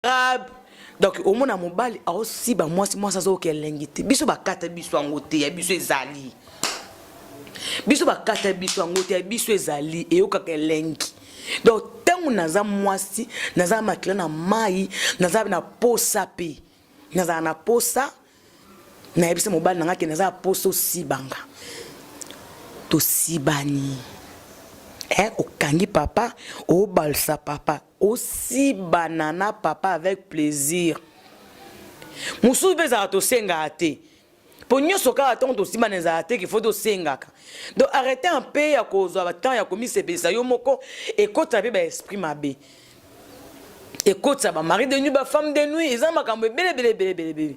arabe donc omona mobali aosiba mwasi mwasi azoyoka elengi te biso bakata biso yango te ya biso ezali biso bakata biso yango te ya biso ezali eyokaka elengi donc ntango naza mwasi naza makila na mai naza na posa mpe nazala na posa nayebisa mobali na ngai ke naza na posa osibanga tosibani eh, okangi papa obalisa papa Osi banana papa avec plaisir. Mosusu mpe ezalaka tosengaka te mpo nyonso kaka ntango tosimbana ezalaka te kifo tosengaka donc arrete mpe ya kozwa batemp ya komisepelisa yo moko ekotisa mpe baesprit mabe ekotisa bamari de nuit bafemme de nuit eza makambo ebele ebele ebele ebele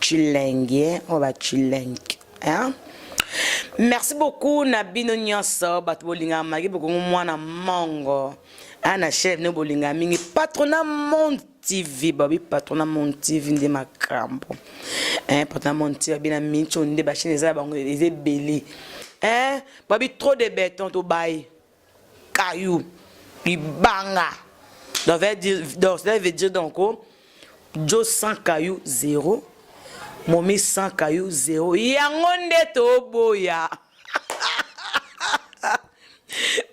Chilengi eh, oyo ba chilengi hein? merci beaucoup na bino nyonso bato bolingaka maki bokongo mwana mongo ana chef no bolingaka mingi patrona monde tv babi patrona monde tv nde makambo eh, patrona monde tv babi na minco nde bachaine eza na bango eza ebele eh, babi trop de beton tobaye caillou libanga donc veut dire donc cela veut dire donc oh, jo sans caillou zéro momi sans caillou zéro yango nde toboya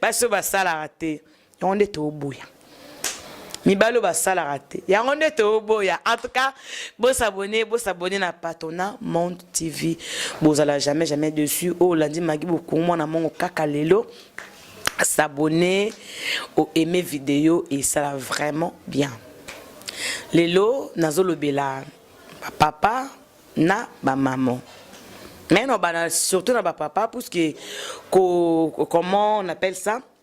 basi oyo basalaka te yango nde toboya mibali oyo basalaka te yango nde toboya en tout cas bosabone bosabone na patona monde tv bozala jamais jamais dessus oyo olandi magi bokungu mwana mongo kaka lelo s'abonner au aimer video esala vraiment bien lelo nazolobela bapapa na bamama mais na bana surtout na bapapa puisque comment on appelle ça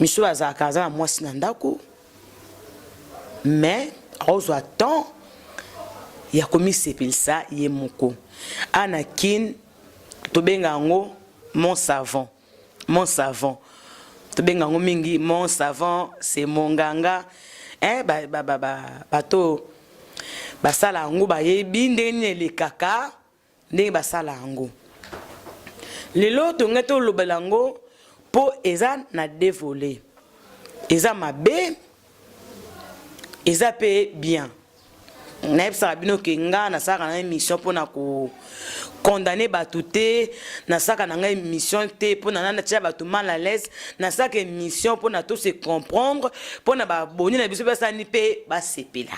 misolo azalaka aza na mwasi na ndako mais akozwa temps ya komisepelisa ye moko a na kin tobenga yango mon savant mon savant tobenga yango mingi mon savant c'est mon nganga eh, bato ba, ba, ba, ba, basala yango bayebi ndenge nini elekaka ndenge basala yango lelo tongai tolobela yango mpo eza na devole eza mabe eza mpe bien nayebisaka bino ke nga nasalaka na émission mpo na ko condamne bato te nasalaka na ngai émission te mpo na natya bato mal à l'aise nasalaka émission mpo na to se comprendre mpo na baboni na biso basalani mpe basepela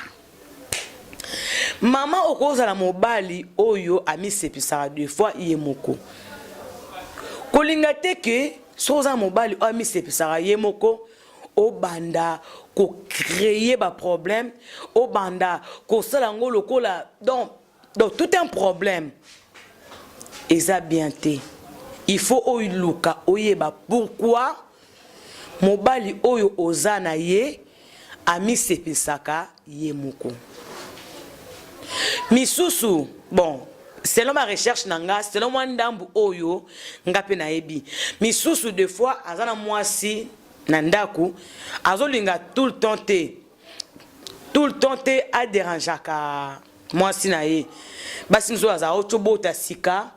Maman okozala mobali oyo amisepisaka de fois ye moko. Kolinga te ke soki oza mobali oyo amisepisaka ye moko obanda ko créer ba problème, obanda kosala yango lokola donc donc tout un problème eza bien te il faut oluka oyeba pourquoi mobali oyo oza na ye amisepesaka ye moko misusu bon selon ma recherche na nga selon mwa ndambu oyo nga mpe nayebi misusu de fois aza na mwasi na ndako azolinga tout le temps te tout le temps te aderangeaka mwasi na ye basi mosusu azala otobota sika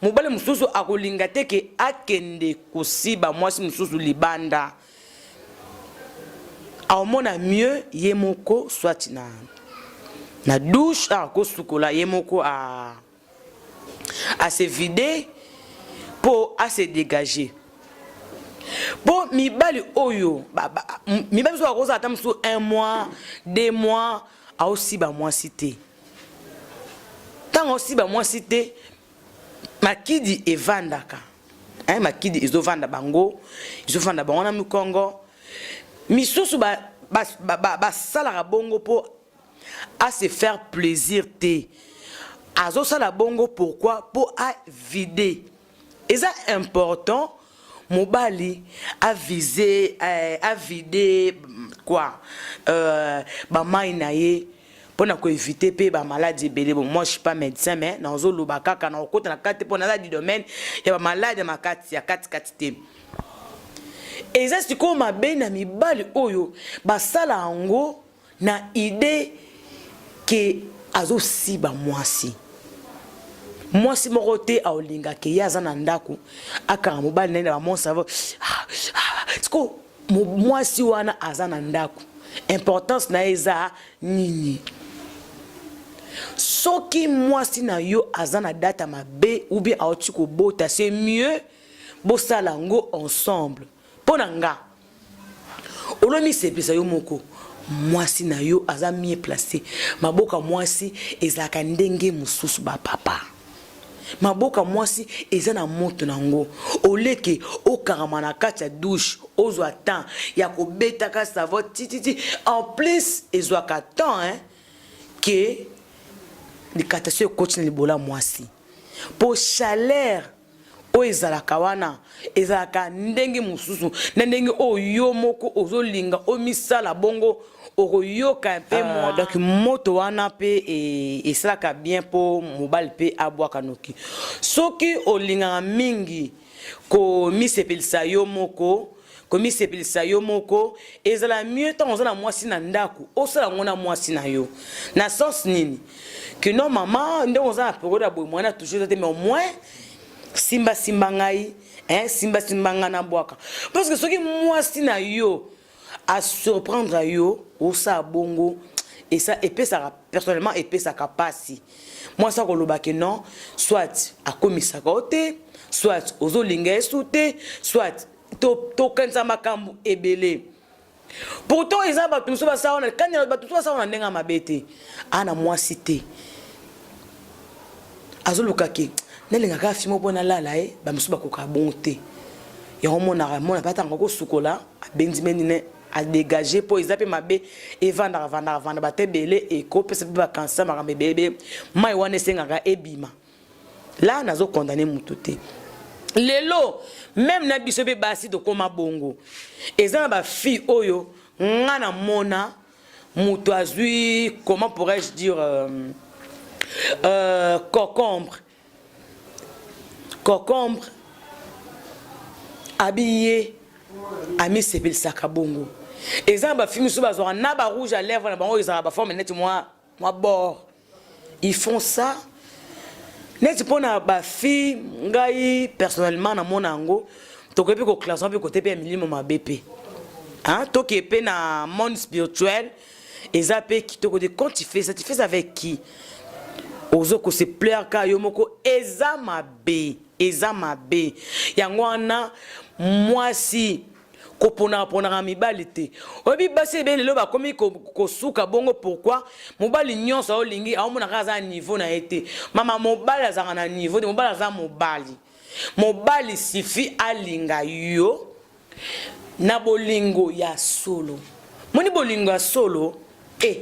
mobali mosusu akolinga te ke akende kosiba mwasi mosusu libanda aomona mieux ye moko swati na na douche akosukola ye moko a ah. à se vider pour à se dégager mpo mibali oyo mibali mosusu bakozala ata mosusu un mois deux mois aosiba mwasi te ntango aosiba mwasi te makidi evandaka eh, makidi ezovanda bango ezovanda bango na mikongo misusu basalaka ba, ba, ba, bongo mpo a se faire plaisir te azosala bongo pourquoi mpo avide eza important mobali avise eh, avide quoi euh, bamai na ye mpo na koevite mpe bamaladi ebele bon moi je suis pas médecin mais nazoloba kaka nakokota na kati te mpo naza du domaine ya bamaladi ya makati ya katikati te eza sikoyo mabe na mibali oyo basala yango na idee ke azosiba mwasi mwasi moko te aolinga ke ye aza na ndako akanga mobali na ye na bamonsavo ah, ah, siko mwasi wana aza na ndako importance na ye eza nini soki mwasi na yo aza na data mabe ou bien auti kobota c'est mieux bosala yango ensemble mpo na nga olomisepisa yo moko mwasi na yo aza mie place maboka mwasi ezalaka ndenge mosusu bapapa maboka mwasi eza na moto na yango oleke okangama na kati ya douche ozwa temps ya kobetaka savo tititi en plus ezwaka temps hein, ke likata so ekoti na libola mwasi mpo chaleur oyo ezalaka wana ezalaka ndenge mosusu na ndenge oyo yo moko ozolinga omisala bongo okoyoka mpe mwa donc moto wana mpe e, esalaka bien mpo mobali mpe abwaka noki soki olingaka mingi komisepelisa yo moko komisepelisa yo moko ezala mieux ntango oza na mwasi na ndako osala yango na mwasi na yo na sens nini kino mama ndenge oza na periode ya boye mwana toujours eza te mais au moins simbasimba ngai eh, simbasimba ngai na bwaka parce que soki mwasi na yo asurprendre yo osala bongo esa epesaka personnellement epesaka mpasi mwasi akoloba ke non soit akomisaka yo te soit ozolinga ye su te soit tokanisa to makambo ebele pourtant eza bato mosusu basala wana kani bato mosusu basala wana ndenge ya mabe te ana mwasi te azoluka ke nalingaka fimo mpo nalala ye bamosusu bakokaka bongo te yango monaka mona pe atanga kosukola abenzi meni ne a dégager po eza pe mabe evandaka vandaka vanda bate ebele ekopesa pe bakansa makambo ebele ebele mai wana esengaka ebima la nazo condamne motu te lelo meme na biso mpe basi tokóma bongo eza na bafille oyo nga na mona moto azwi comment pourrais-je dire euh, euh, cocombre cocombre abiye amisepelisaka bongo eza na bafilme mosusu bazwaka na barouge ya lèvre na bango ezalaka baforme neti mwa mwa bord ils font ça neti mpo na bafille ngai personnellement namona yango tokoki mpe koklassema mpe kote mpe ya milimo mabe mpe tokee mpe na monde spirituel eza pe kitoko de quand tu fais ça tu fais avec qui ozo ko se plaire ka yo moko eza mabe eza mabe yango wana mwasi koponakaponaka mibali te oyebi basi ebe lelo bakomi kosuka bongo pourkui mobali nyonso aolingi aomonaka aza na niveau na ye te mama mobali azalaka na niveau te mobali aza mobali mobali sifi alinga yo na bolingo ya solo moni bolingo ya solo e eh,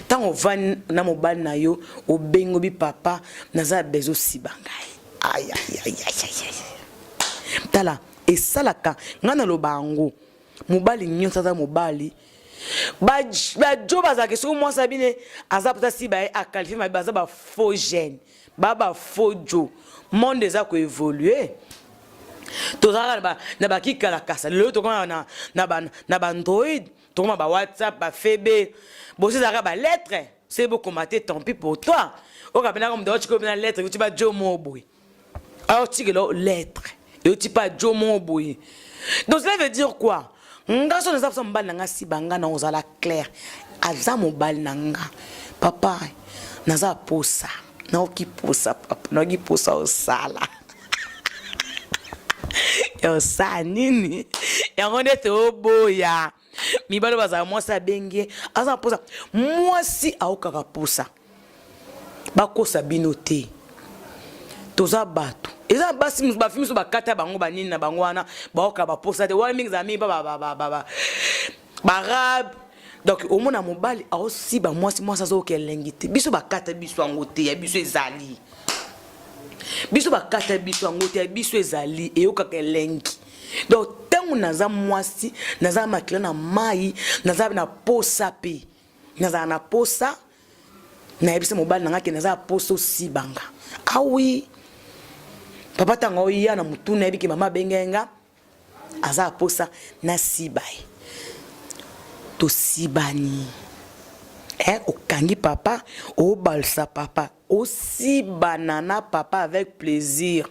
ntango ovandi na mobali na yo obengo bi papa naza ya bezo siba ngai tala esalaka ngai naloba yango mobali nyonso aza mobali bajo bazalaka soki mwasi abine aza mposa si baye akalife mabe baza bafaux gene ba ba faux jo monde eza ko évoluer tozalaka na ba na ba kikalakasa lelo tokoma na na ba na ba android tokoma ba whatsapp ba febe bosi ezalaka ba lettre se bokoma te tant pis pour toi okabinaka moto aotikobina lettre kuti ba jo mobwe aotikelo lettre yo tipa jo moko boye donc cela veut dire quoi nga so naza posa mobali na nga siba nga na ozala claire aza mobali na nga papa naza posa naoki posa papa naoki posa osala ya osala nini yango nde toboya mibale bazala mwasi abengi ye aza na posa mwasi aokaka posa bakosa bino te toza bato eza na basi mosusu bafi mosusu bakata bango banini na bango wana baoka baposa te wana mingi ezala mingi pa barabe donc omona mobali aosiba mwasi mwasi azooka elengi te biso bakata biso yango te ya biso ezali biso bakata biso yango te ya biso ezali eyokaka elengi donc ntango naza mwasi naza makila na mai naza na posa mpe nazala na posa nayebisa mobali na ngai ke naza ya posa osibanga awi ah papa ntango oya na motu nayebi ke mama abengaki nga aza ya posa nasiba ye tosibani eh, okangi papa obalisa papa Osi banana papa avec plaisir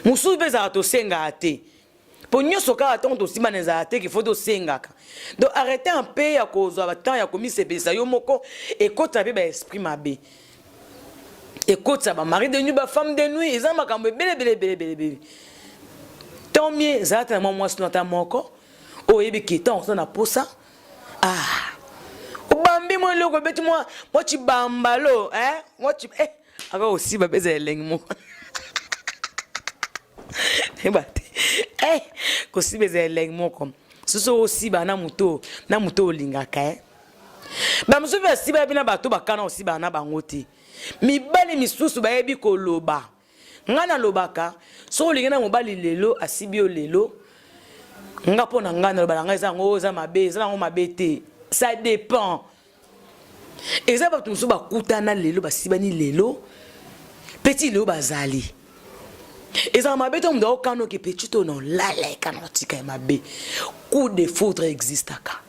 mosusu mpe ezalaka tosengaka te mpo nyonso kaka ntango tosimbana ezalaka te kifo tosengaka donc arrete mpe ya kozwa batemp ya komisepelisa yo moko ekotisa mpe baesprit mabe ekotisa bamari de nuit bafemme de nuit eza makambo ebelebelebelebelebele tant mieux ezalata na mwa mwasi no ata moko oyo oyebi ke ntango oza na mposa ah obambi mwa eloko ebeti mwa mwa chibambalo eh mwa chi eh aka osiba peza elengi moko yeba te eh kosiba eza elengi moko soso osiba na moto na moto olingaka eh bamosusu basiba yabi na bato bakana osiba na bango te mibali misusu bayebi koloba nga nalobaka soki olingi na mobali lelo asibi yo lelo nga mpo na nga naloba na ngai eza yango eza mabe eza yango mabe te ça dépend eza bato mosusu bakutana lelo basibani lelo peti lelo bazali ezala mabe to moto aokanoke peti to na olala ekana otika ya mabe coup de foudre existaka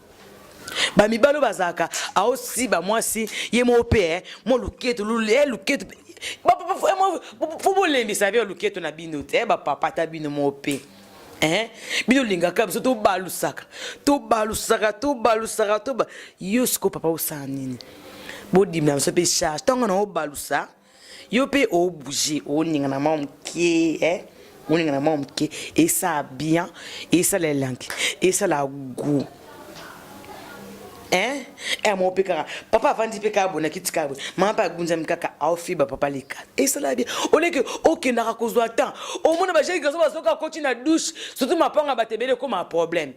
ba mibalo bazalaka aosi ba mwasi ye moko mpe eh, mwa luketu eh, luketu fo bolembisa bino luketu na bino te eh, bapapa ata bino moko mpe eh? bino olingaka biso tobalusaka tobalusaka tobalusaka toba yo siko papa osala nini bodimela biso mpe charge ntango na obalusa yo mpe obouge oningana mwa moke eh? oningana mwa moke esala bien esala elangi esala gout eh? eh, moko mpe kaka papa avandi mpe kaka bona kiti kaka boye mama mpe agunzami kaka aofiba papa leka esala bien oleke okendaka kozwa temps omona bajeki kaso bazoka akoti na douche surtout mapanga bato ebele ekoma problème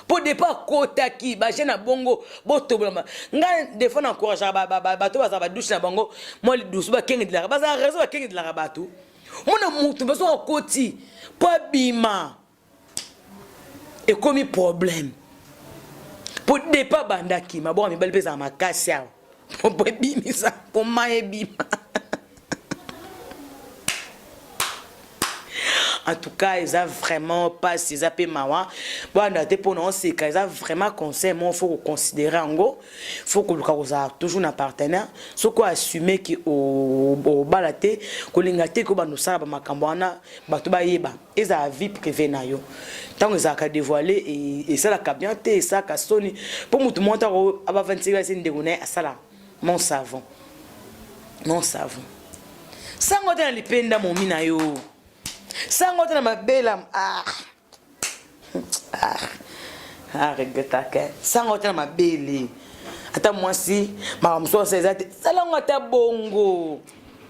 mpo depa akotaki baje na bongo botobolama ngai defo na encourageaka bato bazala badushe na bango mwa lidusu bakengedelaka bazala raison bakengedelaka bato mona moto mpe soki akoti mpo abima ekomi problème mpo depa abandaki maboko ya mibali mpe ezala makasi awa Popo ebimisa koma ebima. en tout cas eza vraiment mpasi eza mpe mawa boyanda te mpo na oseka eza vraiment conseil moko faut koconsidere yango faut koluka kozala toujours na partenaire soki oassume ke obala te kolinga te ke obanda osala bamakambo wana bato bayeba ezala vie privée na yo ntango ezalaka devoile esalaka bien te esalaka soni mpo motu moko ntango abavandisela se ndeko na ye asala mon savon mon savon sango te na lipenda momi na yo sango te na mabela ah. ah. ah regretaka sango te na mabele ata mwasi makambo mosusu eza te sala yango ata bongo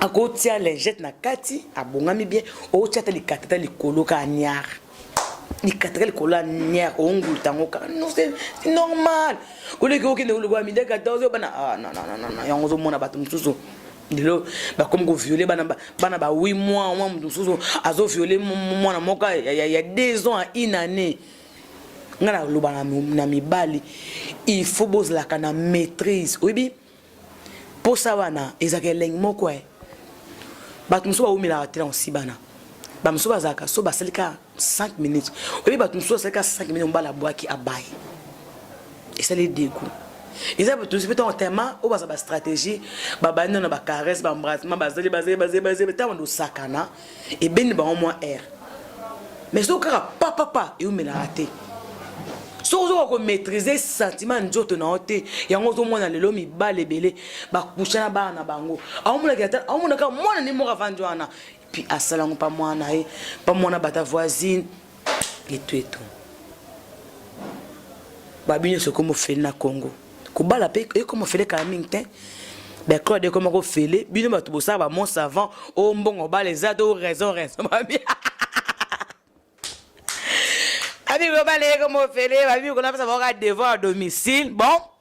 akotia lingette na kati abongami bien otia ata likatata likolo ka niar likataka likolo ya niar oonguluta yango kaka normal oleki okende kolokola midi 14 bana ah, yango ozomona bato mosusu lelo bakomi koviole bana bana ba 8 mois mwa moto mosusu azoviole mwana moko ya 2 ans ya une année ngai naloba na mibali il faut bozalaka na maîtrise oyebi posa wana ezalaka elengi moko e bato mosusu baumelaka te na kosibana bamosusu bazalaka so basali ka 5 minutes oyebi bato mosusu basali ka 5 minutes mobala abwaki abaye esali degout eza bato mosusu mpe ntango tema oyo baza bastratégie babandi na bacaresse bambrasement bazali bazali bazali bazali ntango dosakana ebende bango mwa air mais soki kaka papapa eumelaka te soki ozoka komaîtrise sentiment ya nzoto na yo te yango ozomona lelo mibale ebele bakusha na bana na bango aomonaka mwana nde moko avandi wana puis asala yango pa mwana na ye pa mwana bata voisine Etuetu. Babi nyonso ekoma ofele na Congo. Kobala mpe ekoma ofele kala mingi te. Bacode ekoma kofele. Bino bato bosala ba mont savant. O mbongo obala eza to raison raison babi. Babi kobala ekoma ofele. Babi konapesa baoka devant à domicile. Bon.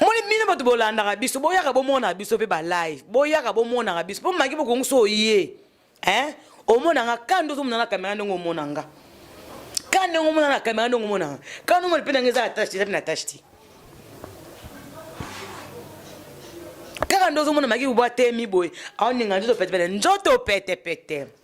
moni bino bato bolandaka biso boyaka bomonaka biso mpe balive boyaka bomonaka biso mpo maki bokongi so oye eh? omona nga ka nde ozomona na kamera ndenge omona nga ka ndenge omona na kamera ndenge omona nga ka nde omona mpe ndenge eza na tache te eza mpe na tache te kaka nde ozomona maki bobwa temi boye aoninga nzoto petepete nzoto petepete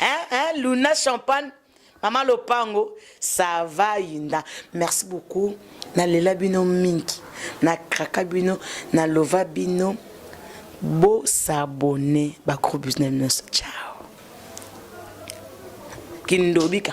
hein, hein, luna champagne mama lopango ça va yinda merci beaucoup nalela bino mingi nakraka bino nalova bino bosabone bagroupe business nyonso ciao kindobika